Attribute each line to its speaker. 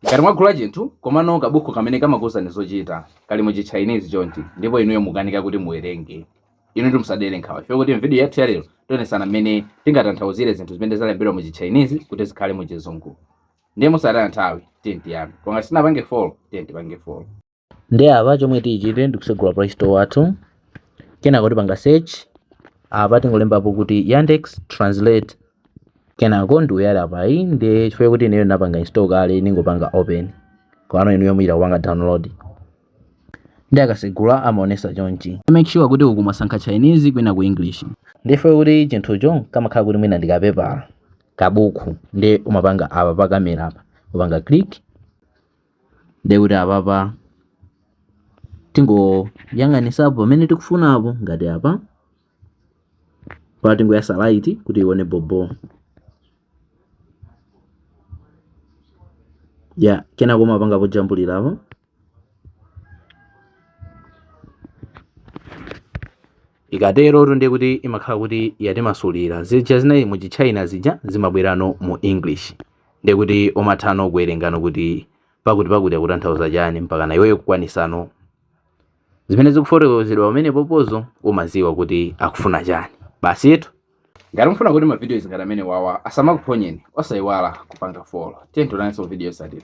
Speaker 1: Ngati mwagula chinthu komano kabuku kamene kamakuuzani zochita kali mu Chinese chonchi ndipo inuyo mukanika kuti muwerenge, inutu musadere nkhawa chifukwa kuti m'vidiyo yathu ya lero tionesana mmene tingatanthauzire zinthu zimene zalembedwa mu Chichinese kuti zikhale mu Chizungu. Ndiye mosataya nthawi, tiyeni tiyambe. Koma ngati sitinapange follow, tiyeni tipange follow. ndi
Speaker 2: apa chomwe tichite ndikusegula play store wathu kenako tipanga search apa tingolembapo kuti yandex translate kenako ndi uyu ali apayu nde chifukwa kuti ineyo ndinapanga install kale ndingopanga open komano inuyo muyita kupanga download ndi akasegula amaonesa chonchi make sure kuti uku mwasankha chinese kwina ku english nde chifukwa kuti chinthucho kamakhala kuti mwina ndi kapepala kabuku ndi umapanga apa pa kamera apa upanga click Ndiye kuti apapa tingoyang'anisa po pomwe tikufunapo ngati apa pa tingoyasa light kuti ione bhobho ya kenako mumapanga pojambulirapo Ikaterotu ndiye kuti imakhala kuti yatimasulira zija zinali mu Chitchaina zija zimabwerano mu English. Ndiye kuti umathano kuwerengano kuti pakuti pakuti akutanthauza chani mpakana iweyo kukwanisano zimene zikufotokozedwa pamenepopo zo umaziwa kuti akufuna chani basitu ngati mufuna kuti
Speaker 1: ma videos ngati amenewawa asamakuphonyeni osayiwala kupanga follow tiyeni tionanso vidiyo yotsatira